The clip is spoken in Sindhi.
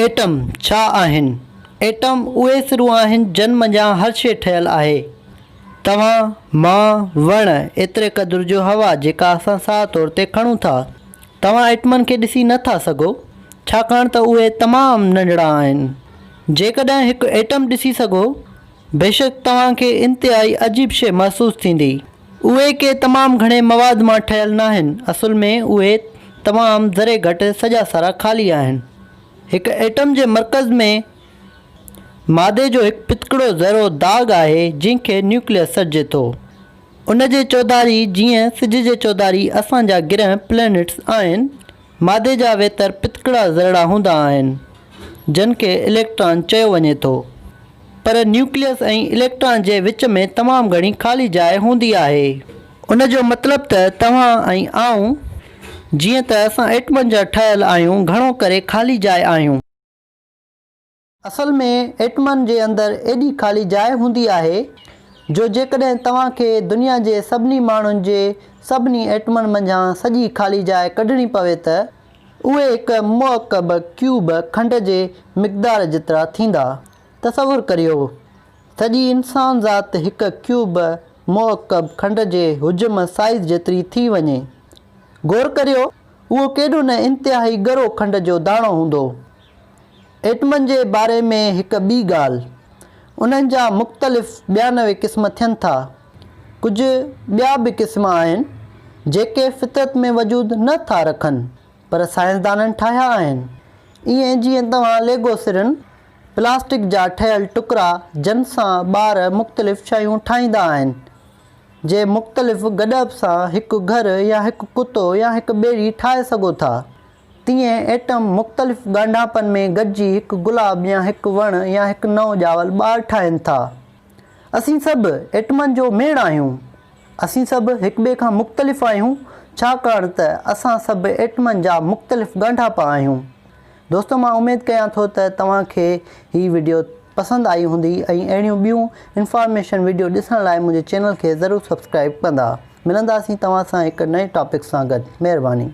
ايٽم ڇا آهن؟ ايٽم اهي سرون آهن جن منجهان هر شيء ٺهيل آهي. توهان، مان، وڻ، ايتري قدر جو هوا جيڪا اسان ساهه طور تي کڻون ٿا. توهان ايٽمن کي ڏسي نه ٿا سگهو ڇاڪاڻ ته اهي تمام ننڍڙا آهن. جيڪڏهن هڪ ايٽم ڏسي سگهو بيشڪ توهان کي انتهائي عجيب شيء محسوس ٿيندي. اهي ڪي تمام گهڻي مواد مان ٺهيل ناهن، اصل ۾ اهي تمام ذري گهٽ سڄا سارا خالي آهن. هڪ ايٽم جي مرڪز ۾ مادي جو هڪ پتڪڙو ذرو داغ آهي جنهن کي نيوڪليس سڏجي ٿو. ان جي چوڌاري جيئن سج جي چوڌاري اسان جا گرهه، Planets، آهن، مادي جا ويتر پتڪڙا ذرڙا هوندا آهن، جن کي اليڪٽران چيو وڃي ٿو. پر نيوڪليس ۽ اليڪٽران جي وچ ۾ تمام گهڻي خالي جاء هوندي آهي. ان جو مطلب ته توهان ۽ آئون، جيئن ته اسان ايٽمن جا ٺهيل آهيون، گهڻو ڪري خالي جاء آهيون. اصل ۾ ايٽمن جي اندر ايڏي خالي جاء هوندي آهي جو جيڪڏهن توهان کي دنيا جي سڀني ماڻهن جي سڀني ايٽمن منجهان سڄي خالي جاء ڪڍڻي پوي ته اهي هڪ مؤڪب ڪيوب کنڊ جي مقدار جيترا ٿيندا. تصور ڪريو سڄي انسان ذات هڪ ڪيوب مؤڪب کنڊ جي حجم سائيز جيتري ٿي وڃي. غور ڪريو اهو ڪيڏو نه انتهائي ڳرو کنڊ جو داڻو هوندو. ايٽمن جي باري ۾ هڪ ٻي ڳالهه، انهن جا مختلف ٻيا نوي قسم ٿين ٿا. ڪجهه ٻيا به قسم آهن، جيڪي فطرت ۾ وجود نه ٿا رکن، پر سائنسدانن ٺاهيا آهن. ائين جيئن توهان ليگو سرن، پلاسٽڪ جا ٺهيل ٽڪرا جن سان ٻار مختلف شيون ٺاهيندا آهن، جي مختلف گڏپ سان هڪ گهر يا هڪ ڪتو يا هڪ ٻيڙي ٺاهي سگهو ٿا. تيئن ايٽم مختلف ڳانڍاپن ۾ گڏجي هڪ گلاب يا هڪ وڻ يا هڪ نئون ڄاول ٻار ٺاهين ٿا. اسين سڀ ايٽمن جو ميڙ آهيون. اسين سڀ هڪ ٻئي کان مختلف آهيون ڇاڪاڻ ته اسان سڀ ايٽمن جا مختلف ڳانڍاپا آهيون. دوستو مان اميد ڪيان ٿو ته توهان کي هي وڊيو پسند آئي هوندي ۽ اهڙيون ٻيون انفارميشن وڊيو ڏسڻ لاء منهنجي چينل کي ضرور سبسڪرائيب ڪندا. ملنداسين توهان سان هڪ نئين ٽاپڪ سان گڏ. مهرباني.